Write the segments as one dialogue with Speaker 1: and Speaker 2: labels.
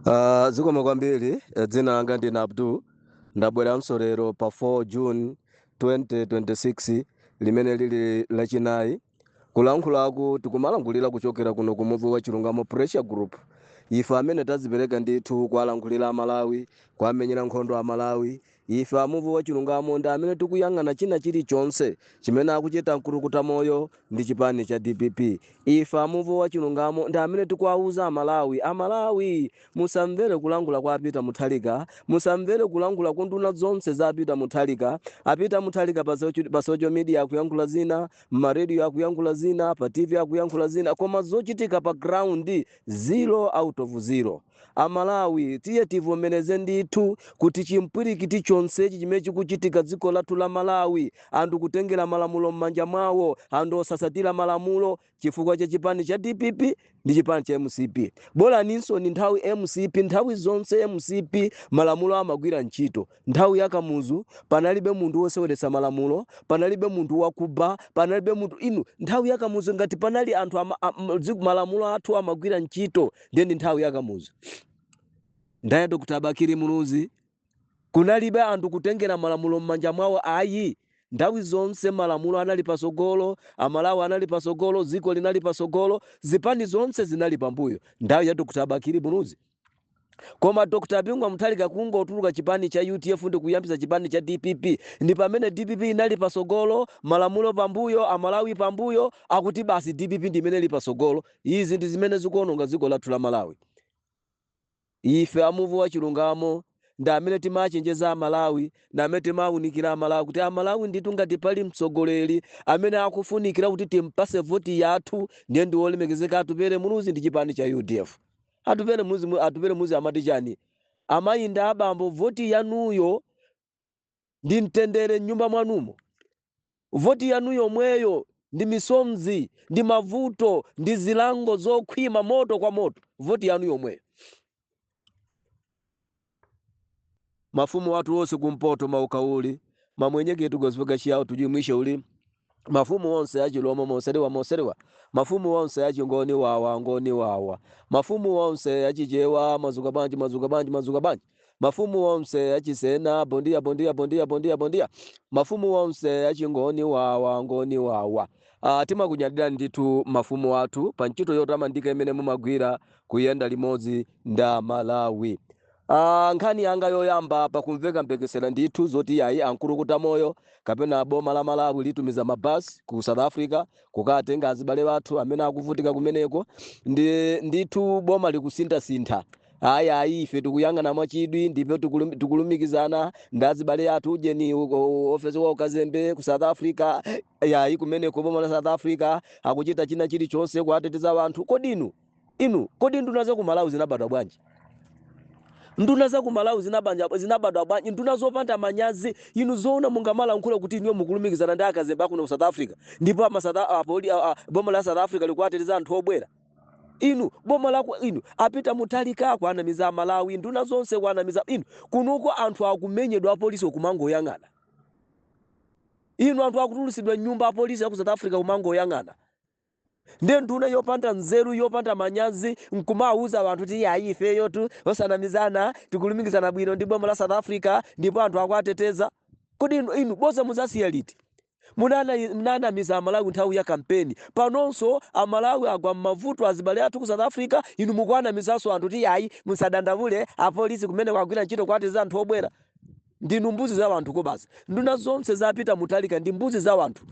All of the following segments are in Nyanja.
Speaker 1: Uh, zikomo kwambiri eh, dzina langa ndine abdul ndabweranso lero pa 4 june 2026 limene lili lachinayi kulankhulaku tikumalankhulira kuchokera kuno ku muvi wa chilungamo pressure group ife amene tazipereka ndithu kuwalankhulira amalawi kuwamenyera nkhondo amalawi Ife a Muvi Wachilungamo ndi amene tikuyang'ana china chili chonse chimene akuchita mkutukuta moyo ndi chipani cha dpp. Ife a Muvi Wachilungamo ndi amene tikuwauza a Malawi, a Malawi musamvere kulankhula kwa a Peter Mutharika, musamvere kulankhula kwa nduna zonse za a Peter Mutharika. A Peter Mutharika pa socio pa social media akuyankhula zina, mma radio akuyankhula zina, pa TV akuyankhula zina koma zochitika pa ground zero out of zero. A Malawi tiye tivomereze ndithu kuti chimpwirikiti chonsechi chimene chikuchitika dziko lathu la Malawi anthu kutengera malamulo mmanja mwawo anthu osatsatira malamulo chifukwa cha chipani cha dpp ndi chipani cha mcp. Bolaninso ndi nthawi mcp nthawi zonse mcp malamulo amagwira ntchito. Nthawi ya Kamuzu panalibe munthu woseweretsa malamulo, panalibe munthu wakuba, panalibe munthu inu nthawi ya Kamuzu ngati panali anthu ama, a, mzi- malamulo athu amagwira ntchito ndiye ndi nthawi ya Kamuzu. Nthawi ya Dr. Bakili Muluzi kunalibe anthu kutengera malamulo m'manja mwawo ayi nthawi zonse malamulo anali pasogolo amalawi anali pasogolo dziko linali pasogolo zipani zonse zinali pambuyo nthawi ya dr bakili muluzi Koma Dr Bingu wa Mutharika kungotuluka chipani cha udf ndi kuyambitsa chipani cha dpp ndi pamene dpp inali patsogolo, malamulo pambuyo, Amalawi pambuyo, akuti basi dpp ndi imene ili patsogolo. Izi ndi zimene zikuononga dziko lathu la Malawi. Ife a Muvi wa Chilungamo ndi amene timachenjeza Amalawi, ndi amene timaunikira Amalawi kuti Amalawi ndithu ngati pali mtsogoleri amene akufunikira kuti timpase voti yathu ndiye ndi wolemekezeka Atupele Muluzi ndi chipani cha udf. Atupele Muluzi mu- atupele muluzi amati chani amayi ndi abambo voti yanuyo ndi mtendere mnyumba mwanumo voti yanu yomweyo ndi misozi ndi mavuto ndi zilango zokhwima moto kwa moto voti yanu yomweyo mafumu athu onse kumpoto mauka uli mamwenye ketu gosipe ga chiyao tujimwishe uli mafumu onse achilomwe moseriwa moseriwa mafumu onse achingoni wawa ngoni wawa mafumu onse achichewa mazuka banji mazuka banji mazuka banji mafumu onse achisena bondia bondia bondia bondia bondia mafumu onse achingoni wawa ngoni wawa Ah, timakunyadirani ndithu mafumu athu pa ntchito yotamandika imene mumagwira kuyenda limodzi nda Malawi. Aaa nkhani yanga yoyamba apa kumveka mphekesera ndithu zoti yayi Akulukuta moyo kapena boma la Malawi litumiza ma bus ku South Africa kukatenga azibale athu amene akuvutika kumeneko ndi ndithu boma likusinthasintha ayi ayi ife tikuyang'ana mwachidwi ndipo tikulum- tikulumikizana ndi azibale athu ujeni u- u- ofesi wa ukazembe ku South Africa yayi kumeneko boma la South Africa akuchita china chilichonse kuateteza anthu kodi inu Inu, kodi nduna za ku Malawi zinabadwa bwanji? Nduna za ku Malawi zinabadwa zinabadwa bwanji? Nduna zopanda manyazi, inu zoona mungamalankhula kuti inuyo mukulumikizana ndi akazembe akuno ku South Africa ndipo ama South a- apoli a- a- boma la South Africa likuwateteza anthu obwera? Inu boma la ku- inu a Peter Muthalika kuwanamiza Amalawi, nduna zonse kuwanamiza inu. Kunuko anthu akumenyedwa apolisi kumangoyang'ana. Inu anthu akutulutsidwa m'nyumba apolisi aku South Africa kumangoyang'ana. ndiye nduna yopanda nzeru yopanda manyazi nkumauza anthu kuti ayi ifeyotu osanamizana tikulumikizana bwino ndi boma la south africa ndipo anthu akuwateteza kodi inu, inu boza mudzasiya liti Munana- munanamiza amalawi nthawi ya kampeni panonso amalawi agwa m'mavuto azibale athu ku south africa inu mukuwanamizanso anthu kuti ayi musadandaule apolisi kumeneko agwira ntchito kuwateteza anthu obwera Ndinu mbuzi za wanthu kobasi. Nduna zonse za Peter Muthalika ndi mbuzi za wanthu.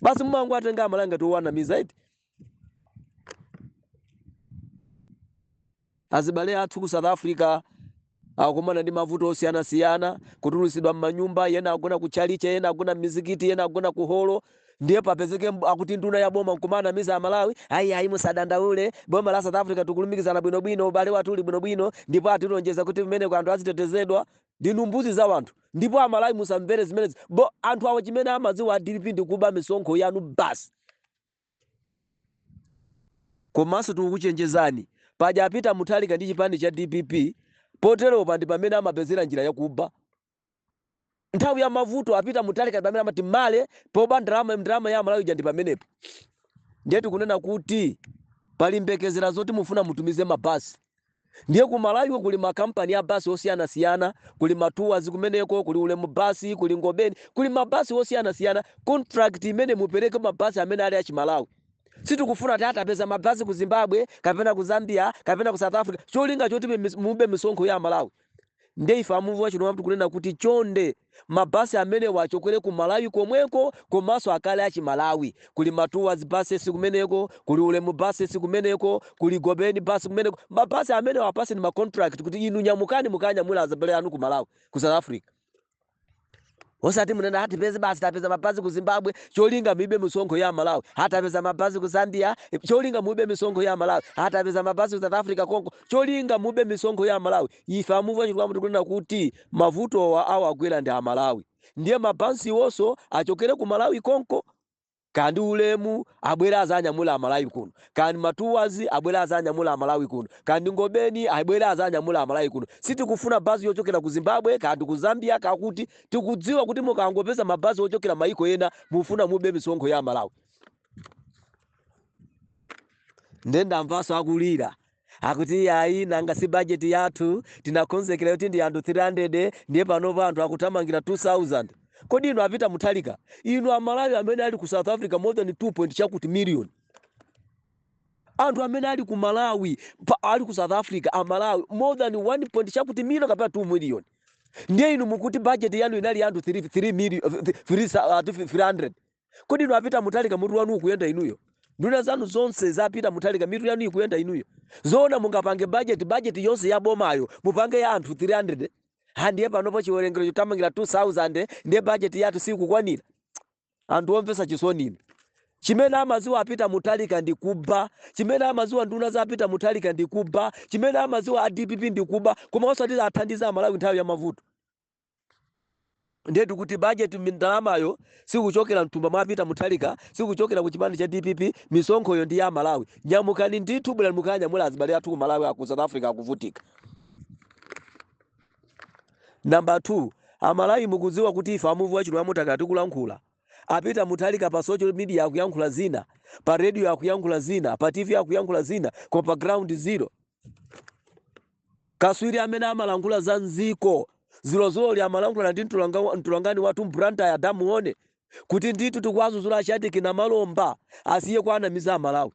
Speaker 1: Basi mumangowatenga amalawi ngati owanamiza eti. Azibale athu ku South Africa akumana ndi mavuto osiyanasiyana, kutulutsidwa m'manyumba, yena agona ku tchalitchi, yena agona m'mizikiti, yena agona ku holo, ndiye papezeke mb- akuti nduna ya boma nkumanamiza amalawi ayi ayi musadandaule boma la south africa tikulumikizana bwinobwino ubale wathu uli bwinobwino ndipo atilonjeza kuti kumeneko anthu azitetezedwa ndinu mbuzi za wanthu ndipo amalawi musamvere zimenezi bo anthu awo chimene amadziwa a dpp ndi kuba misonkho yanu basi komanso tikukuchenjezani paja a Peter Muthalika ndi chipani cha dpp poterepa ndi pamene amapezera njira yakuba nthawi ya mavuto a Peter Muthalika pamene amati mwayi poba ndalama ndalama ya amalawi ija ndi pamenepo ndiye tikunena kuti pali mphekesera zoti mufuna mutumize mabasi ndiye ku malawiko kuli makampani ya basi osiyanasiyana kuli ma Tours kumeneko kuli ulemu basi kuli ngobeni kuli mabasi osiyanasiyana contract imene mupereke mabasi amene ali achimalawi sitikufuna kuti akapeze mabasi ku zimbabwe kapena ku zambia kapena ku south africa cholinga choti mimi- mube misonkho ya amalawi nde ife amuvi wachilungamo tikunena kuti chonde ma bus amenewa achokere ku Malawi komweko komanso akhale achimalawi. Kuli ma Tours buses kumeneko, kuli Ulemu buses kumeneko, kuli Ngobeni bus kumeneko. Ma bus amenewa apatseni ma contract kuti inu nyamukani mukanyamule azibale anu ku Malawi, ku South Africa. osati munene ati tapeza basi tapeza mabasi ku zimbabwe cholinga mube misonkho ya malawi ati tapeza mabasi ku zambia cholinga mube misonkho ya malawi ati tapeza mabasi ku south africa konko cholinga mube misonkho ya malawi ife a muvi wa chilungamo tikunena kuti mavutowa awagwera ndi amalawi ndiye mabasiwonso achokere ku malawi konko Kaya ndi ulemu abwere azanyamule amalawi kuno, kaya ndi matours abwere azanyamule amalawi kuno, kaya ndi ngobeni abwere azanyamule amalawi kuno. Sitikufuna bus yochokera ku zimbabwe kaya ndi ku zambia kaya kuti. Tikudziwa kuti mukangopeza ma bus ochokera maiko ena mufuna mube misonkho ya amalawi. Nde ndamvaso akulira. akuti yayi nanga si bajeti yathu tinakonzekera yoti ndi anthu 300 ndiye panopa anthu akuthamangira 2000 kodi inu a peter mutharika inu amalawi amene ali ku south africa more than 2 point chakuti million anthu amene ali ku malawi pa- ali ku south africa amalawi more than 1 point chakuti million kapena 2 million ndiye inu mukuti bajeti yanu inali ya anthu 3 3 million 300 Kodi inu a Peter Mutharika mutu wanu ukuyenda inuyo? Nduna zanu zonse za Peter Mutharika mitu yanu ikuyenda inuyo? Zoona mungapange budget budget yonse ya bomayo mupange ya anthu 300? Ha ndiye panopo chiwerengero chothamangira 2000 ndiye budget yathu sikukwanira. Anthu omvetsa chisoni inu. Chimene amadziwa a Peter Mutharika ndi kuba, chimene amadziwa nduna za a Peter Mutharika ndi kuba, chimene amadziwa a DPP ndi kuba, koma osati athandiza Amalawi nthawi ya mavuto. ndiye tikuti budget ndalamayo sikuchokera mthumba mwa Peter Mutharika sikuchokera ku chipani cha DPP misonkhoyo ndi ya Malawi nyamukani ndithu bwera mukanyamule azibale athu ku Malawi aku South Africa akuvutika number 2 amalawi mukudziwa kuti ife a Muvi wa Chilungamo takhala tikulankhula a Peter Mutharika pa social media akuyankhula zina pa radio akuyankhula zina pa tv akuyankhula zina koma pa ground zero Katswiri amene amalankhula za mdziko dzulodzuloli amalankhulana ndi mtolankha, mtolankhani wathu m'Blantyre adamu 1 kuti ndithu tikuwadzudzula Shadric Namalomba asiye kuwanamiza amalawi.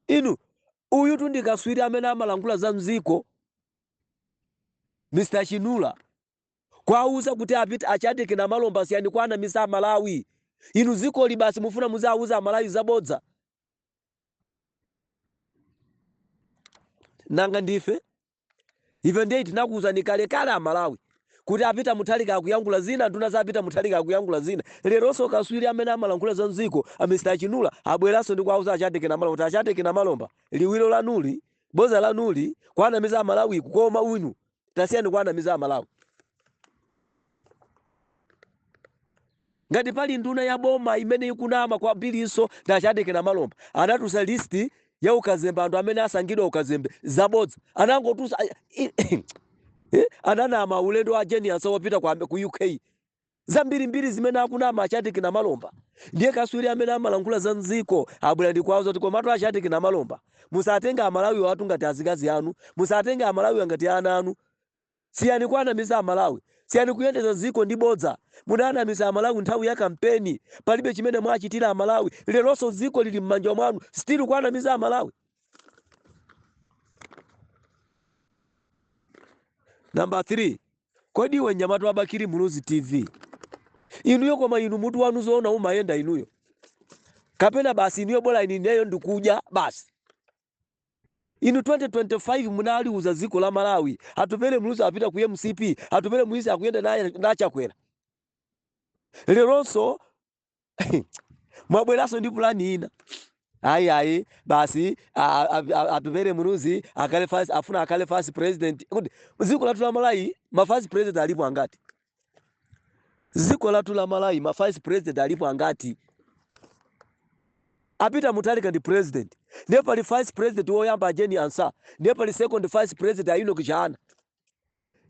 Speaker 1: Inu, uyutu ndi katswiri amene amalankhula za mdziko Mr Chinula kuwauza kuti a Peter a Shadric Namalomba siyani kuwanamiza amalawi. Inu dzikoli basi mufuna muziawuza amalawi zabodza? nanga ndife ife ndiye tinakuwuzani kalekale amalawi kuti a peter mutharika akuyankhula zina nduna za a peter mutharika akuyankhula zina leronso katswiri amene amalankhula za mdziko a mr chinula abweranso ndi kuwauza a shadric namalomba kuti a shadric namalomba liwiro lanuli boza lanuli kuwanamiza amalawiku koma uyu tasiyani kuwanamiza amalawi ngati pali nduna ya boma imene ikunama kwambirinso ndi a Shadric Namalomba anatusa listi ya ukazembe anthu amene asankhidwa ukazembe zabodza anangotusa eh, ananama ulendo wa Jane Ansah wopita ku Am- ku uk zambirimbiri zimene akunama a Shadric Namalomba ndiye kaswiri amene amalankhula za mziko abwera ndikuwauza kuti komatu a Shadric Namalomba musatenge amalawiwatu ngati azikazi anu musatenge amalawiwa ngati ana anu siyani kuwanamiza amalawi siyani kuyendeza ziko ndi bodza munanamiza amalawi nthawi ya kampeni palibe chimene mwachitira amalawi leronso ziko lili m'manja mwanu still kuwanamiza amalawi number 3 Kodi iwe mnyamata wa Bakili Muluzi TV inuyo koma inu mutu wanu zoona umayenda inuyo kapena basi inuyo bola ine ineyo ndikudya basi inu 2025 munaliuza dziko la Malawi atupele Muluzi apita ku MCP atupele Muluzi akuyenda na Chakwera leronso mwabweranso ndi pulani ina ayi ayi basi Atupele Muluzi akhale vice afuna akhale vice president kodi ziko lathu la Malawi ma vice president alipo angati ziko lathu la Malawi ma vice president alipo angati a Peter Mutharika ndi president ndiye pali vice president woyamba a Jane Ansah ndiye pali second vice president a Enock Chihana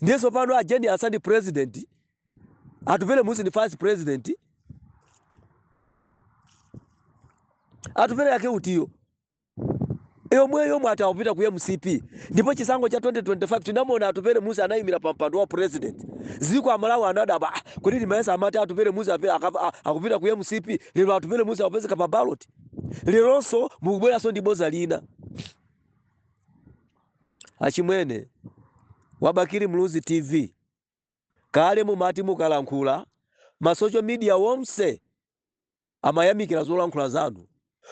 Speaker 1: ndiye tsopano a Jane Ansah ndi president Atupele Muluzi ndi vice president Atupele wake utiyo yomwe yomwe atawapita ku mcp ndipo chisankho cha 2025 tinamona Atupele Muluzi anayimira pa mpando wa president ziko amalawi anadabwa "Ah, kodi ndimayesa amati Atupele Muluzi ape- akapa- a- akupita ku mcp lero Atupele Muluzi akupezeka pa ballot leronso mukubweranso ndi boza lina Achimwene, wa Bakili Muluzi TV, kale mumati mukalankhula ma social media wonse amayamikila zolankhula zanu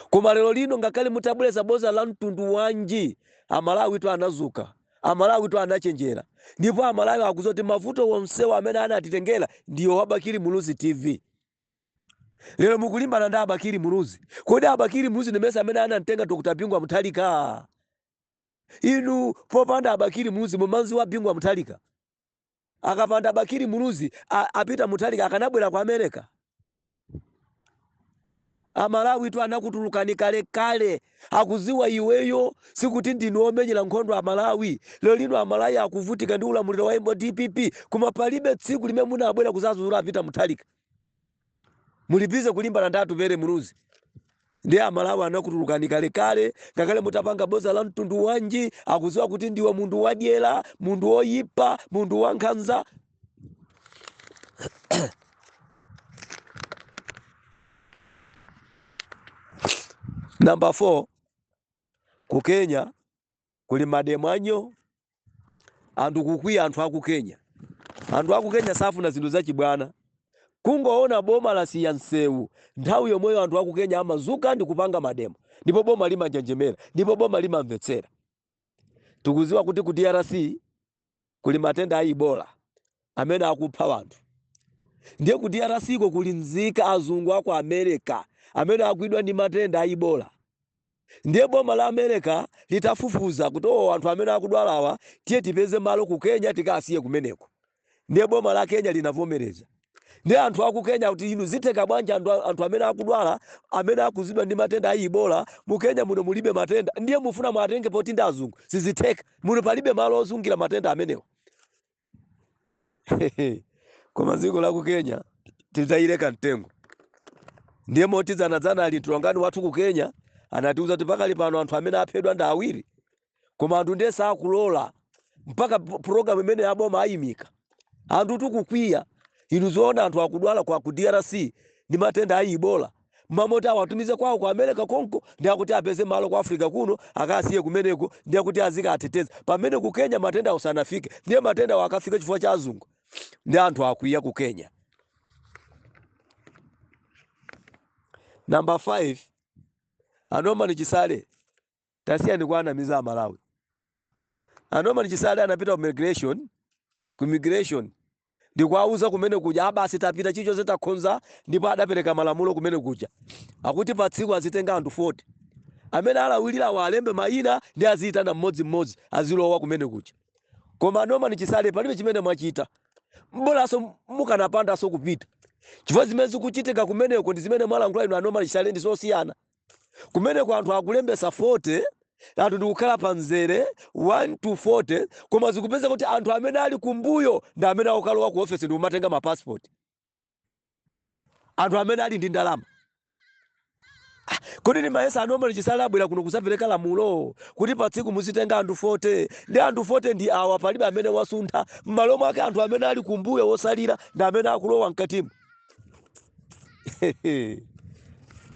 Speaker 1: koma lero lino ngakhale mutabwelesa boza la mtundu wanji amalawi tu anadzuka, amalawi tu anachenjera ndipo amalawi akuziwa kuti mavuto wonsewa amene anatitengela ndiwe wa Bakili Muluzi TV. Lero mukulimbana ndi a Bakili Muluzi, kodi a Bakili Muluzi ndimesa amene anamtenga Dr Bingu wa Mutharika? inu popanda a Bakili Muluzi mumamziwa Bingu wa Mutharika akapanda a Bakili Muluzi a, a Peter Mutharika akanabwera ku america amalawi tu anakutulukani kale kale akuziwa iweyo sikuti ndinu omenyera nkhondo amalawi lero lino amalawi akuvutika ndi ulamuliro wa mdpp koma palibe tsiku limene munabwera kuzazuzula a Peter Mutharika muli bize kulimbana ndi atupere muluzi ndiye amalawi anakutulukani kalekale ngakhale mutapanga boza la mtundu wanji akuziwa kuti ndiwe munthu wadyera munthu woyipa munthu wankhanza number four ku kenya kuli mademo anyoo anthu kukwiya anthu aku kenya anthu aku kenya safuna zinthu zachibwana kungoona boma lasiya msewu nthawi yomweyo anthu aku kenya amadzuka ndi kupanga mademo ndipo boma limanjenjemera ndipo boma limamvetsera tukuziwa kuti ku drc kuli matenda a Ebola amene akupha anthu. Ndiye ku DRC ko kuli nzika azungu a ku America amene agwidwa ndi matenda a Ebola. Ndiye boma la America litafufuza kuti o oh, anthu amene akudwalawa tiye tipeze malo ku Kenya tikawasiye kumeneko. Ndiye boma la Kenya linavomereza. ndiye anthu aku Kenya kuti inu zitheka bwanji anthu, anthu amene akudwala amene agwidwa ndi matenda a Ebola mu Kenya muno mulibe matenda ndiye mufuna muwatenge poti ndi azungu sizitheka muno palibe malo osungira matenda amenewo koma dziko la ku Kenya titayireka mtengo ndiye moti dzanadzana mtolankhani wathu ku Kenya anatiuza kuti pakali pano anthu amene aphedwa ndi awiri koma anthu ndiye sakulola mpaka program imene ya boma ayimika anthu atakwiya inu zoona anthu akudwala kwa ku drc ndi matenda a ibola mmalo moti awatumize kwawo ku america konko ndiye akuti apeze malo ku africa kuno akasiye kumeneko ndiye akuti azikawateteza pamene ku kenya matendawo sanafike ndiye matendawo akafika chifukwa cha azungu ndiye anthu akwiya ku kenya namba 5 a norman chisale Tasiyani kuwanamiza amalawi. A Norman Chisale anapita ku migration, ku immigration ndikuwauza kumene kuja a basi tapita chilichonse takonza ndipo adapereka malamulo kumene kuja akuti pa tsiku azitenga anthu 40 amene alawirira alembe mayina ndiye aziyitana mmodzimmodzi azilowa kumene kuja koma a Norman Chisale palibe chimene mwachita bolaso mukanapandaso kupita chifukwa zimene zikuchitika kumeneko ndi zimene mwalankhula inu a Norman Chisale ndi zosiyana kumeneko anthu akulembesa 40 anthu ndikukhala pa mzere 1 to 40 koma zikupezeka kuti anthu amene ali kumbuyo ndi amene akukalowa ku ofesi ndikumatenga mapasipoti anthu amene ali ndi ndalama kodi nimayesa a norman chisale abwera kuno kuzapereka lamulo kuti pa tsiku muzitenga anthu 40 ndiye anthu 40 ndi awa palibe amene wasuntha m'malo mwake anthu amene ali kumbuyo otsalira ndi amene akulowa mkatimu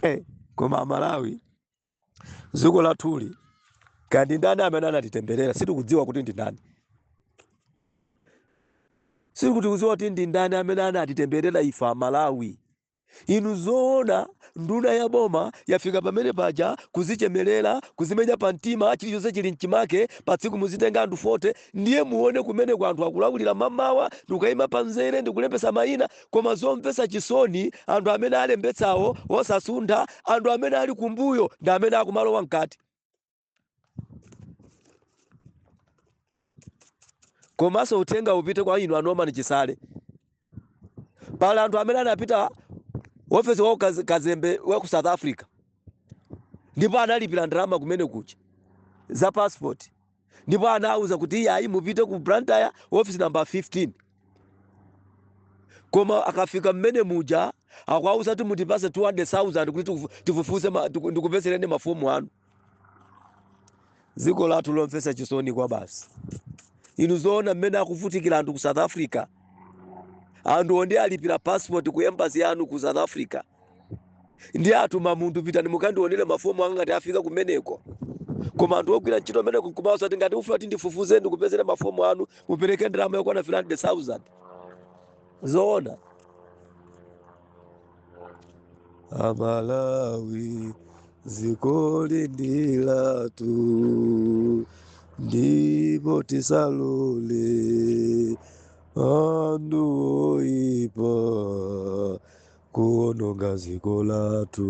Speaker 1: Eh, koma amalawi dziko lathuli kaya ndi ndani amene anatitemberera sitikudziwa kuti ndi ndani sitikudziwa kuti ndi ndani amene anatitemberera ife amalawi inu zoona nduna ya boma yafika pamene paja kuzichemerera kuzimenya pa mtima chilichonse chili mchimake pa tsiku muzitenga anthu 40 Ndiye muone kumeneko anthu akulawirira mamawa ndikukaima pa mzere ndikulembetsa maina koma zomvetsa chisoni anthu amene alembetsawo osasuntha anthu amene ali kumbuyo ndi amene akumalowa mkati. Komanso uthenga upite kwa inu a Norman Chisale. pala anthu amene anapita ofesi wa ukaz- kazembe wa ku south africa ndipo analipira ndalama kumene kuja za passport ndipo anawuza kuti iyayi mupite ku blantyre office number 15 koma akafika mmene muja akwauza kuti mutipase 200000 kuti tifu- tifufuze ma- tiku- ndikupezereni mafomu anu dziko lathu lomvetsa chisoni kwabasi inu zoona mmene akuvutikira anthu ku south africa anthu oti alipira passport ku embassy yanu ku south africa ndi atuma munthu pitani mukandionere mafomu anga ngati afika kumeneko koma anthu ogwira ntchito kumeneko nkumati ngati ufuna kuti ndifufuze ndikupezere mafomu anu mupereke ndalama yokwana 300000 zoona amalawi zikoli ndi latu ndipo tisalole andu oipa kuononga ziko latu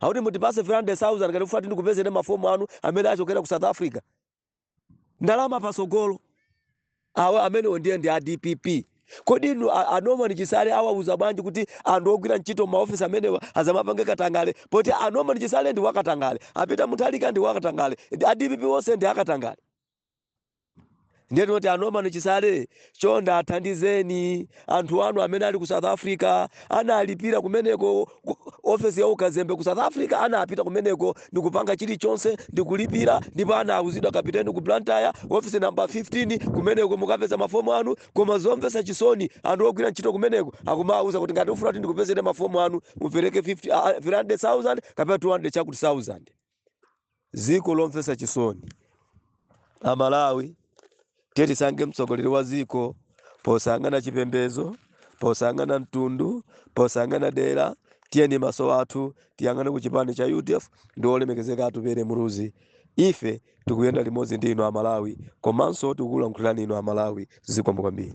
Speaker 1: akuti mutipase 300,000 ngati mufuna tikupezereni mafomu anu amene achokera ku south africa ndalama patsogolo awa amenewo ndiye ndi a dpp kodi inu a- a norman chisale awauza bwanji kuti anthu ogwira ntchito m'maofisi amenewa asamapange katangale poti a norman chisale ndi wakatangale a Peter Mutharika ndi wakatangale a dpp onse ndi akatangale ndiye tinoti a Norman Chisale chonde athandizeni anthu anu amene ali ku south africa analipira kumeneko ku- ofesi ya ukazembe ku south africa anapita kumeneko ndikupanga chilichonse ndikulipira ndipo anauzidwa kapiteni ku blantyre ofisi namba 15 kumeneko mukapeza mafomu anu koma zomvetsa chisoni anthu ogwira ntchito kumeneko akumawauza kuti ngati ufuna kuti ndikupezere mafomu anu mupereke 50 ah, 300000 kapena 200 chakuti 1000 ziko lomvesa chisoni amalawi tiyeni tisankhe mtsogoleri wa ziko posayang'ana chipembezo posayang'ana mtundu posayang'ana dera tiyeni maso athu tiyang'ane ku chipani cha udf ndi olemekezeka atupere Muluzi ife tikuyenda limodzi ndi inu amalawi komanso tikukulankhulirani inu amalawi zikomo kwambiri